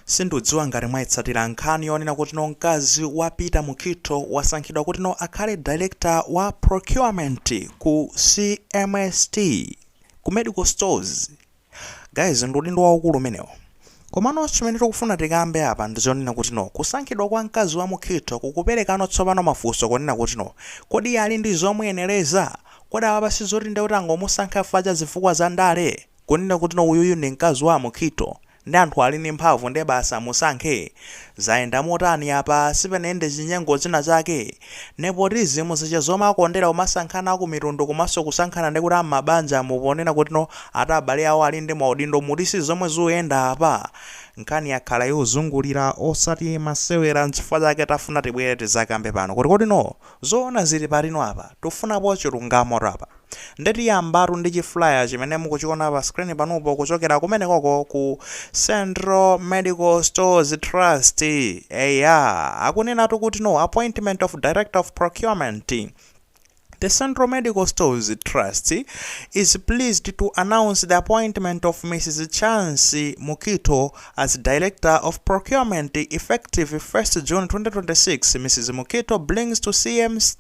Sindudziwa ngati mwaitsatira nkhani yonena kutino mkazi wa Peter Mukhitho wasankhidwa kutino akhale Director wa Procurement ku CMST, ku Medical Stores. Guys ndi udindo waukulu umenewo. Komano chimene tikufuna tikambe apa ndi chonena kutino kusankhidwa kwa mkazi wa Mukhitho kukuperekano tsopano mafunso konena kutino kodi iye ali ndi zomuyenereza? Kodi apapa sizoti ndekuti angomusankha chifukwa cha zifukwa za ndale? Kunena kutino uyuyu ndi mkazi wa Mukhitho nde anthu ali ndi mphamvu nde basi amusankhe? Zayenda motani apa? Sipanayende chinyengo china chake? Nepotism zija zomakondera kumasankhana aku mitundu komanso kusankhana ndikuti a mmabanjamu ponena kutino ati abale awo ali ndi maudindo muti si zomwe zuyenda apa? Nkhani yakhala yozungulira osati masewera nchifukwa chake tafuna tibwere tizakambe pano kuti kodino zoona zili patino apa? Tufunapo chilungamotu apa. Nde tiyambatu ndi chi flyer chimene mukuchiona pa screen panupo kuchokera kumenekoko ku Central Medical Stores Trust. Eya, akunenatu kuti no appointment of Director of Procurement. The Central Medical Stores Trust is pleased to announce the appointment of Mrs. Chancy Mukito as Director of Procurement effective 1st June 2026. Mrs. Mukito brings to CMST.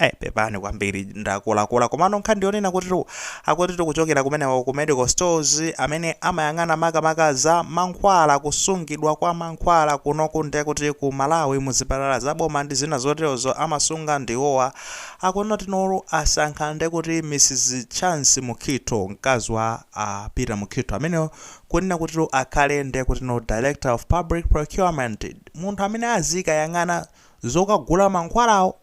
Eh pepani kwambiri ndakulakwula komano nkhani ndiyonena kutitu akuti tikuchokera kumeneko ku medical stores amene amayang'ana makamaka za mankhwala kusungidwa kwa mankhwala kunoku ndekuti ku Malawi muzipatala za boma ndi zina zoterozo amasunga ndiwowa akunotinotu asankha ndekuti Mrs Chance Mukhitho mkazi wa a Peter Mukhitho ameneyo kunena kutitu akhale ndekutino Director of Public Procurement munthu amene azikayang'ana zokagula mankhwalawo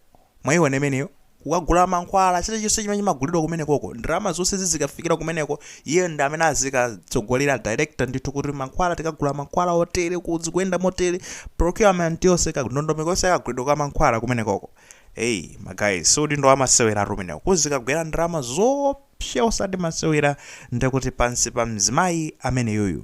Mwaiona imeneyo? Kukagula mankhwala, chirichonse chimene chimagulidwa kumenekoko, ndalama zonse zizikafikira kumeneko, iyeyo ndi amene azikatsogolera, director, ndithu, kuti mankhwala, tikagula mankhwala otere, uku zikuyenda motere, procurement yonse, kandondomeko yonse ya kagulidwe ka mankhwala kumenekoko. Eyi, ma guys, si udindo wamasewelatu umenewo, kuzikagwera ndalama zoopsa. psha osati masewera ndekuti pansi pa mzimayi ameneyuyu.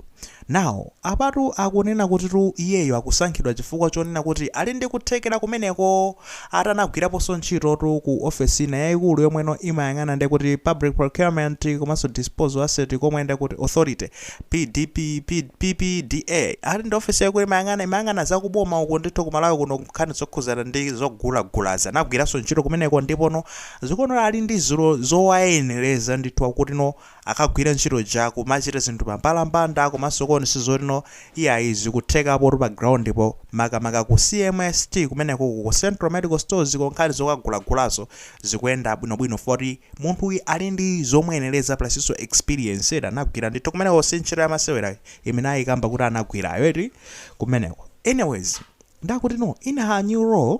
now apatu akunena kutitu iyeyo akusankhidwa chifukwa chonena kuti ali ndi kuthekera kumeneko ati anagwiraponso ntchitotu ku ofesi ina yaikulu yomweno imayang'ana ndekuti public procurement komanso disposal asset komwe ndekuti authority PDP, P, PPDA ati ndi ofesi yaikulu imayang'ana imayang'ana za kuboma uku ndithu ku Malawi kuno nkhani zokhuzana ndi zogulagulazi anagwiranso ntchito kumeneko ndipono Zikuonera ali ndi ziro zowayenereza ndithu akutino akagwira ntchito yake kumachita zinthu pa mbalambanda komanso kuonetsetsa zotino iyayi zikuthekapotu pa ground po makamaka ku CMST kumenekoko ku Central Medical Stores ko nkhani zokagulagulazo zikuyenda bwinobwino chifukwa kuti munthuyi ali ndi zomuyenereza plusnso experience eti anagwira ndithu kumeneko si ntchito yamasewera imene ayikamba kuti anagwirayo eti kumeneko anyways nde akutino in her new role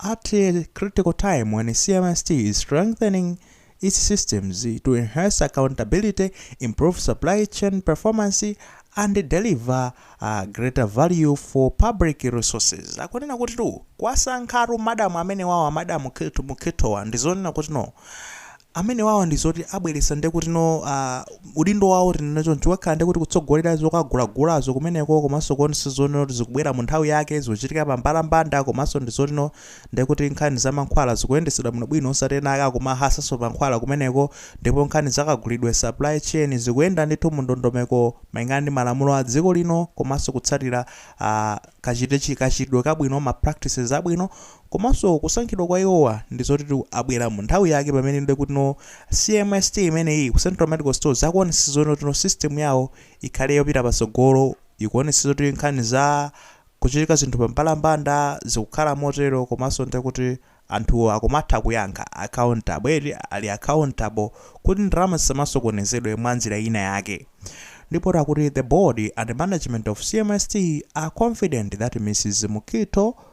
At a critical time when CMST is strengthening its systems to enhance accountability, improve supply chain performance, and deliver uh, greater value for public resources akunena kutitu kuwasankhatu madamu amenewawa madamu Mukhithowa ndizonena kutino amenewawa ndizoti abweretsa ndekuti no uh, udindo wawo tinene choncho ukakhala ndekuti kutsogolera zokagulagulazo kumeneko komanso kuonetsetsa zonena kuti zikubwera mu nthawi yake zikuchitika pambalambanda komanso ndizoti no ndekuti nkhani za mankhwala zikuyendetsedwa bwinobwino osati ena ake akumahasanso pa mankhwala kumeneko ndipo nkhani zakagulidwe supply chain zikuyenda ndithu mu ndondomeko malingana ndi malamulo a dziko lino komanso kutsatira uh, kachitechi kachitidwe kabwino ma practices abwino Komanso kusankhidwa kwa iwowa ndi zotitu abwera mu nthawi yake pamene ndekutino CMST imeneyi ku Central Medical Stores akuonetsetsa zonotino system yawo ikhale yopita patsogolo, ikuonetsetsa zoti nkhani za kuchitika zinthu pambalambanda zikukhala motero komanso ndekuti anthu akumatha kuyankha, accountable eti, ali accountable kuti ndalama zisamasokonezedwe mwa njira ina yake. Ndipotu akuti the board and management of CMST are confident that Mrs. Mukhitho,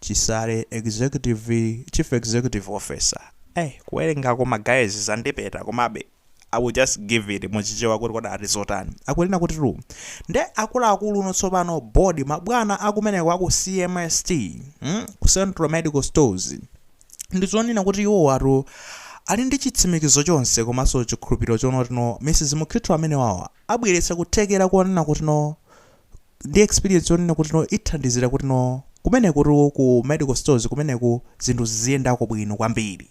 Chisale Executive Chief Executive Officer eh kuwerengaku ma guys zandipeta komabe I will just give it mu chichewa kuti kodi ati zotani akunena kuti tu nde akuluakuluno tsopano board mabwana akumeneko aku CMST mm, ku Central Medical Stores ndi zonena kuti iwowatu ali ndi chitsimikizo chonse komanso chikhulupiriro chonotino Mrs Mukhitho amenewawa abweretsa kuthekera konena kutino ndi experience yonena kuti no ithandizira kuti no kumenekutu ku medical stores kumeneku zinthu ziziyendako bwino kwambiri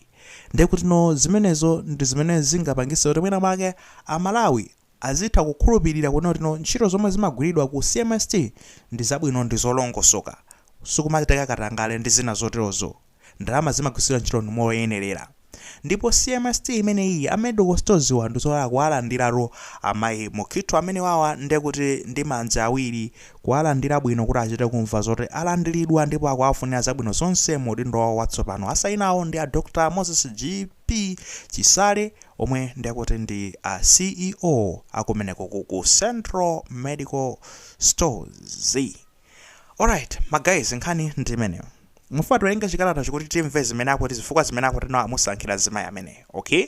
ndiye kuti no zimenezo ndi zimene zingapangise kuti mwina mwake amalawi azitha kukhulupirira kunena kuti no ntchito zomwe zimagwiridwa ku cmst ndi zabwino ndi zolongosoka sikumachitika katangale ndi zina zoterozo ndalama zimagwiritsidwa ntchito moyenerera ndipo CMST imeneyiyi a medical storeswa ndizoti akuwalandiratu amayi Mukhitho amenewawa ndekuti ndi manja awiri kuwalandira bwino kuti achite kumva zoti alandilidwa ndipo akuwafunira zabwino zonse mu udindo wawo watsopano asayinawo ndi a Dr Moses GP Chisale omwe ndekuti ndi a CEO akumeneko ku ku Central Medical Stores. Alright ma guys nkhani ndi imeneyo. Mukufuna tiwerenge chikalatacho kuti timve zimene akuti zifukwa zimene akuti no amusankhira mzimayi ameneyo, okay?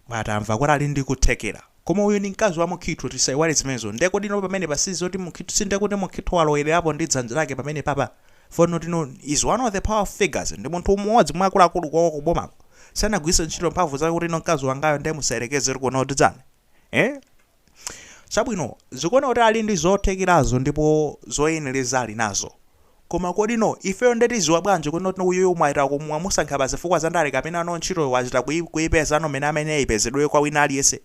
Koma tamva kuti ali ndi kuthekera. Koma uyu ndi mkazi wa Mukhitho tisaiwale zimenezo. Ndiye kodi no pamenepa si zoti Mukhitho si ndiye kuti Mukhitho walowererapo ndi dzanja lake pamenepapa? For not no he is one of the power figures ndi munthu mmodzi mwa akuluakulu kwawo ku bomako. Sanagwiritse ntchito mphamvu zake kuti no mkazi wangayo ndiye musayerekeze kunena kuti kuno tidzane. Eh? Chabwino, zikuoneka kuti ali ndi zothekerazo ndipo zoyenereza ali nazo. Koma kodi no, ifeyo nde tiziwa bwanji kuti not no uyuyu mwachita kumusankha pa zifukwa za ndale kapena no ntchitoyo wachita kuyi kuyipeza no mmene amayenera ipezedwere kwa wina aliyense?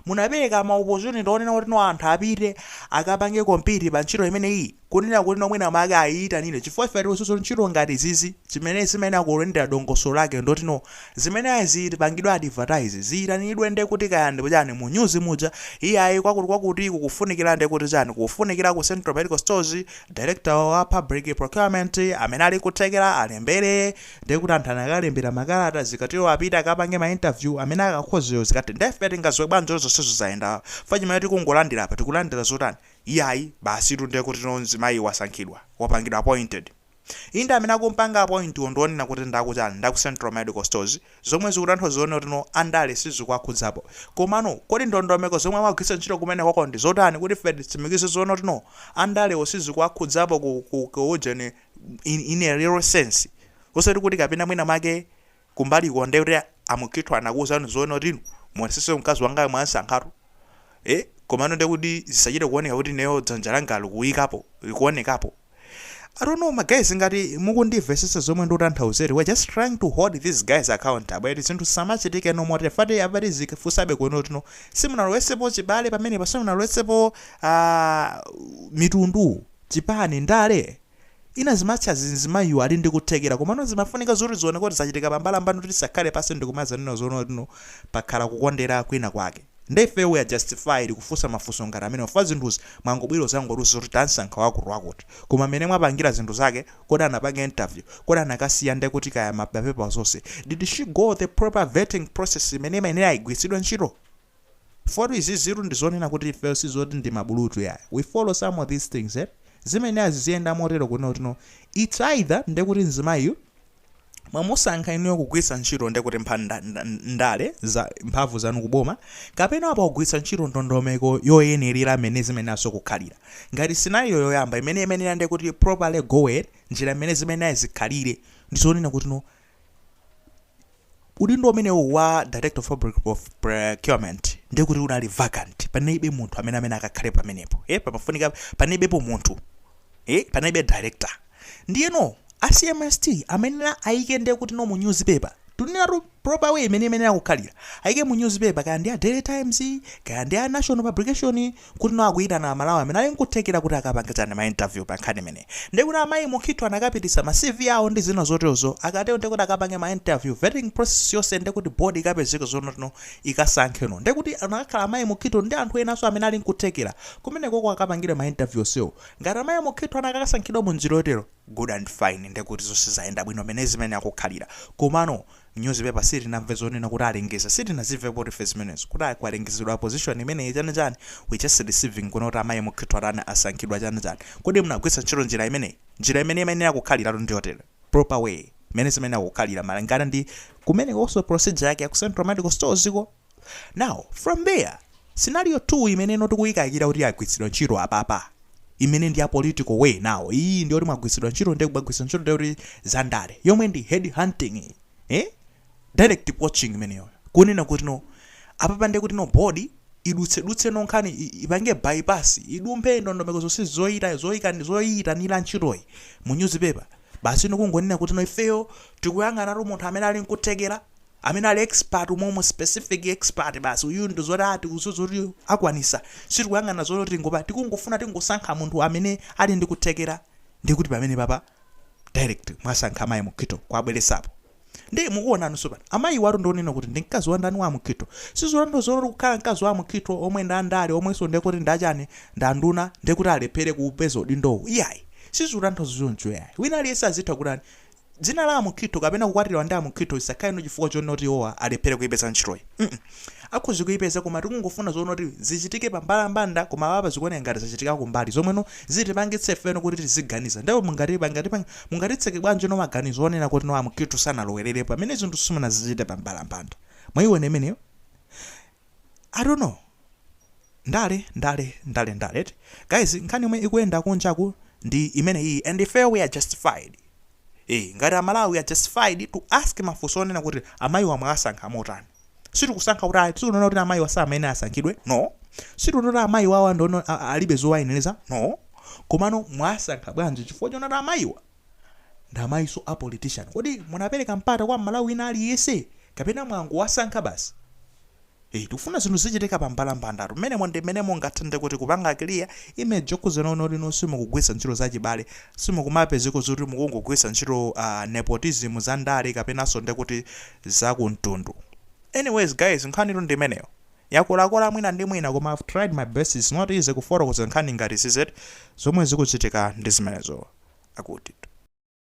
Munapereka ma opportunity onena kuti no anthu apite akapange compete pa ntchito imeneyiyi? Kunena kuti no mwina mwake ayiyitanire chifukwa ife tikutsutsa ntchito ngati izizi chimene zimayenera kuyendela dongosolo lake ndiloti no zimene ayi zipangidwe advertise, ziyitanidwe nde kuti kaya ndi chani mu news muja, iyayi kwakuti kwakuti kukufunikira nde kuti chani kukufunikira ku Central Medical Stores, Director wa Public Procurement amene ali kuthekera alembere nde kuti anthu akalembera makalata zikatero apite akapange ma interview amene akakhozeyo zikatero nde ife tingadziwe bwanji zoti zonsezo zayenda chifukwa chimene tikungolandira apa tikulandira zotani? Iyayi basitu nde kuti no mzimayi wasankhidwa, wapangidwa appointed. Inde amene akumpanga appoint wo ndi onena kuti ndaku chani, ndaku Central Medical Stores, zomwe zikutanthauza zonena kuti no ndale sizikuwakhudzapo. Komano kodi ndondomeko zomwe amagwiritsa ntchito kumenekoko ndi zotani kuti ife titsimikize zonena kuti no ndale zo sizikuwakhudzapo ku, ku, ku ujeni in, in a real sense osati kuti kapena mwina mwake kumbaliko nde kuti a Mukhitho anakuuzani zonena kuti inu muonetsetse mkazi wangayo mwamsankhatu ee komano nde kuti zisachite kuoneka kuti ineyo dzanja langa likuikapo likuonekapo I don't know ma guys ngati mukundimvetsetsa zomwe ndikutanthauzetu we're just trying to hold these guys accountable eti zinthu zisamachitike no more tefati apati tikufunsabe kunena kuti no simunalowetsepo chibale pamenepa simunalowetsepo ah, mitundu chipani ndale Ina zimatsi azizi mzimayiyu ali ndi kuthekera komano zimafunika zoti zioneke kuti zachitika pa mbalambanda kuti tisakhale pansi ndikumazanena zonena kuti no pakhala kukondera kwina kwake. Nde ifeyo we are justified kufunsa mafunso ngati amenewa chifukwa zinthuzi mwangobwera kuzangotiuza zoti tansankha wakuti wakuti koma mmene mwapangira zinthu zake kodi anapanga interview? Kodi anakasiya nde kuti kaya mapepa onse did she go the proper vetting process imene imayenera igwiritsidwe ntchito? Chifukwa tu izizitu ndi zonena kuti ifeyo si zoti ndi mabulutu iyayi. We follow some of these things eti. Zimayenera ziziyenda motero kunena kuti no. It's either ndiye kuti mzimayiyu mwamusankha inuyo kugwiritsa ntchito ndiye kuti mpha, nda, nda, ndale za, mphamvu zanu ku boma kapena apa kugwiritsa ntchito ndondomeko yoyenerera mmene zimayeneranso kukhalira. Ngati scenario yoyamba imene imayenera ndiye kuti proper yo njira mmene zimayenera zikhalire ndi zonena kuti no. Udindo umenewu wa Director of Public of Procurement ndiye kuti unali vacant. Panalibe munthu amene amene akakhale pamenepo. Eh, pamafunika panalibepo munthu. Eh, panalibe director. Ndiyeno a CMST amayenera ayike ndiye kuti no mu newspaper. Tunena tu proper way imene imayenera kukhalira. Ayike mu newspaper kaya ndi a Daily Times, kaya ndi a Nation Publication, kuti no akuyitana amalawi amene ali nkuthekera kuti akapangitsane ma interview pa nkhani imeneyi. Ndiye kuti amayi Mukhitho anakapititsa ma CV awo ndi zina zotero zo, akatero ndiye kuti akapange ma interview, vetting process yonse ndiye kuti board ikapezeke zoti no ikasankhe no. Ndiye kuti anakakhala amayi Mukhitho ndi anthu enanso amene ali nkuthekera, kumenekoko akapangidwe ma interview onsewo. Ngati amayi Mukhitho anakakasankhidwa mu njira yotero, good and fine ndiye kuti zonse zayenda bwino mmene zimayenera kukhalira. Komano, nyuzipepa sitinamve zonena kuti alengeza sitinazimvepotu ife zimenezo kuti ai kwalengezedwa a position imeneyi chani chani we just receiving kuno kuti amayi Mukhitho atani asankhidwa chani chani kodi munagwiritsa ntchito njira imeneyi njira imene imayenera kukhaliratu ndiyotere proper way mmene zimayenera kukhalira malingana ndi kumenekonso procedure yake ya ku central medical stores ko Now, from there, scenario 2 imene no tikuyikayikira kuti yagwiritsidwa ntchito apapa imene ndi ya political way now iyi ndi yoti mwagwiritsidwa ntchito ndi kubagwiritsa ntchito ndi yoti za ndale yomwe ndi head hunting iyi, eh direct poaching imeneyo kunena kuti no apapa ndi kuti no board idutsedutse no nkhani i- ipange bypass idumphe ndondomeko zonse zoyita zoyika zoyitanira ntchitoyi mu newspaper basi no kungonena kuti no ifeyo tikuyang'anatu munthu amene ali nkuthekera amene ali expert umomo specific expert basi uyuyu ndi oti a tikudziwa zoti akwanisa sitikuyang'ana zoti tingopa tikungofuna tingosankha munthu amene ali ndi kuthekera ndiye kuti pamene papa direct mwasankha amayi Mukhitho mwabweretsapo ndiye mukuonanso pano amayiwatu ndi onena kuti ndi mkazi wa ndani wa Mukhitho sizitanthauza zoti kukhala mkazi wa Mukhitho omwe ndi andale omwenso ndiye kuti ndachani ndi anduna ndiye kuti alephere kupeza udindowo iyayi sizitanthauza choncho yayi wina aliyense azitha kutani Dzina la a Mukhitho kapena kukwatiwa ndi a Mukhitho isakhale no chifukwa chonoti iwowa alephele kuipeza ntchitoyi mm akhoza kuipeza koma tikungofuna zonoti zichitike pa mbalambanda koma apapa zikuoneka ngati zachitika kumbali zomwe no zitipangitse ifeno kuti tiziganiza nde mungatitseke bwanji no maganizo onena kuti no a Mukhitho sanalowelele pamene zinthu simunazichite pa mbalambanda mwaiona imeneyo? I don't know ndale ndale ndale ndale eti guys nkhani yomwe ikuyenda kunjaku ndi imeneyiyi and ife we are justified Eh, ngati amalawi we are justified to ask mafunso onena kuti amayiwa mwawasankha motani sitikusankha kuti sitikunena kuti amayiwa samayenera asankhidwe no sitikunena kuti amayiwawa ndono a- a- alibe zowayenereza no komano mwawasankha bwanji chifukwa chonena kuti amayiwa Ndamayiso a politician kodi munapereka mpata kwa mmalawi wina aliyese kapena mwangowasankha basi ee tikufuna zinthu zizichitika pa mbalambandatu mmenemo ndi mmene mungathe nde kuti kupanga clear image yokhudza inu oti inu simukugwiritsa ntchito zachibale simukumapezeko zoti mukungogwiritsa ntchito aah nepotism za ndale kapenanso nde kuti za ku mtundu anyways guys nkhanitu ndi imeneyo. Yakolakola mwina ndi mwina koma I've tried my best it's not easy kufotokoza nkhani ngati zizitu zomwe zikuchitika ndi zimenezo. Akutitu.